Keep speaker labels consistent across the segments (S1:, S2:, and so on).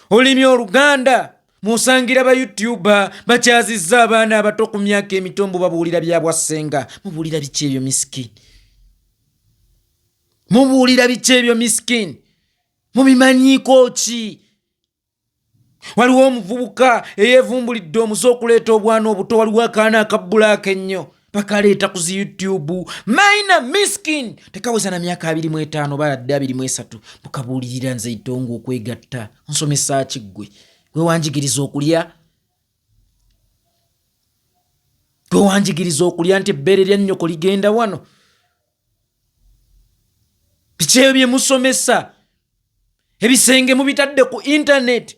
S1: olulimi oluganda musangira ba youtuba bakyazizza abaana abato ku myaka emitombo babuulira byabwassenga mubuulira biki ebyo miskin mubuulira biki ebyo miskin mubimanyiiko ki waliwo omuvubuka eyevumbulidde omuze okuleeta obwana obuto waliwo akaana akabbulaaka ennyo bakaleeta ku zi youtube maina miskin tekaweza na myaka abiri mu etaano baladde abiri mu esatu mukabuulirira nze itonga okwegatta nsomesa ki ggwe gwe wanjigiriza okulya gwe wanjigiriza okulya nti ebbeere lya nnyoko ligenda wano bikyeyo bye musomesa ebisenge mubitadde ku intaneti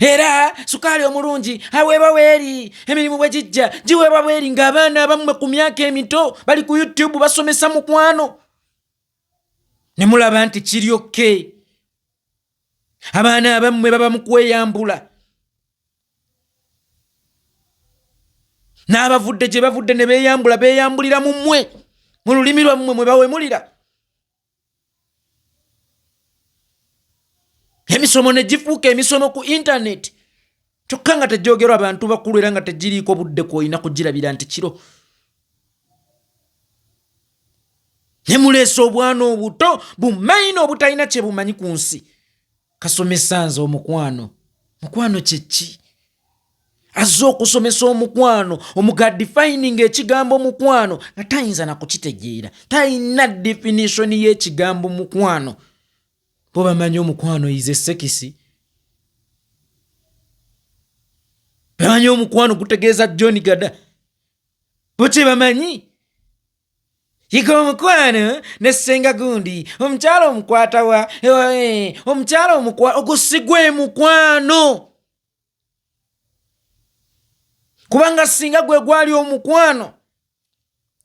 S1: era sukaali omulungi aweebwa weeri emirimu bwe gijja giweebwa bweri ng'abaana abammwe ku myaka emito bali ku youtube basomesa mukwano ne mulaba nti kiryokke abaana abammwe baba mu kweyambula n'abavudde gye bavudde ne beeyambula beeyambulira mu mmwe mu lulimi lwammwe mwe bawemulira emisomo ne gifuuka emisomo ku intaneti kyokka nga tegyogerwa abantu bakulu era nga tegiriiko budde kwolina kugirabira nti kiro ne muleesa obwana obuto bumaina obutalina kye bumanyi ku nsi kasomesa nze omukwano mukwano kyeki azze okusomesa omukwano omuga defining ekigambo mukwano nga tayinza nakukitegeera talina definition y'ekigambo mukwano bo bamanyi omukwano ize sekisi bamanyi omukwano gutegeeza john gada bo kyebamanyi yiga omukwano ne ssenga gundi omukyala omukwatawa eh, omukyala omukwa ogusigwa emukwano kubanga singa gwe gwali omukwano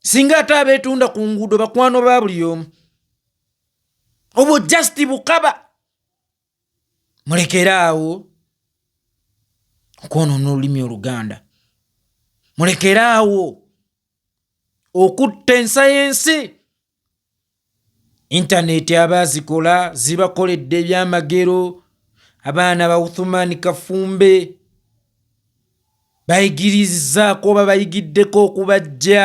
S1: singa ate abeetunda ku nguudo bakwano ba buli omu obwo just bukaba mulekere awo okwonoona olulimi oluganda mulekere awo okutta ensa y'ensi intaneeti aba azikola zibakoledde ebyamagero abaana bauthumani kafumbe bayigirizaako oba bayigiddeko okubajja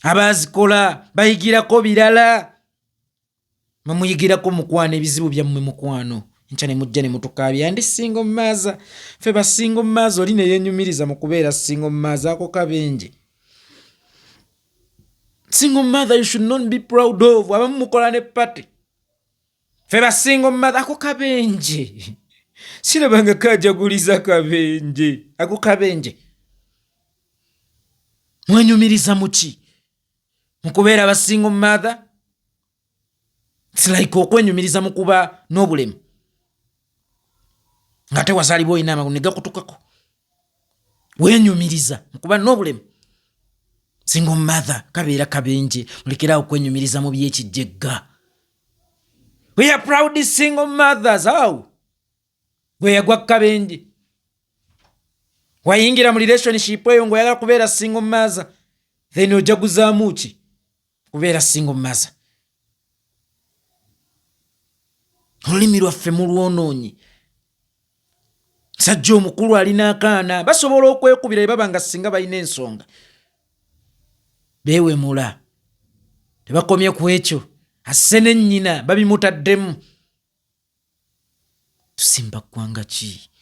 S1: abaazikola bayigirako birala mamuyigirako mukwano ebizibu byammwe mukwano nkya ne mujja ne mutukaabya ndi singa omumaaza fe basinga omumaaza oli ne yenyumiriza mu kubeera singa omumaaza ako kabenje singa omumaaza you should not be proud of abamu mukola ne party fe basinga omumazi ako kabenje sirabanga kajaguliza kabenje ako kabenje mwenyumiriza muki mukubeera basinga omumatha silike okwenyumiriza mukuba n'obulemu nga te wazalibwa olina amagulu negakutukako wenyumiriza mukuba n'obulemu singa omumatha kabeera kabenje mulekerawo okwenyumiriza mu byekijjegga We are proud single mothers. How? Gwe yagwa kabenje. Wayingira mu relationship eyo ngo yagala kubeera single mother. Then oja kuzamu ki? Kubeera single mother. Olulimi lwaffe mulwonoonyi. sajja omukulu alina akaana basobola okwekubira ebaba nga singa balina ensonga bewemula tebakomye ku ekyo asse ne nnyina babimutaddemu tusimba ggwanga ki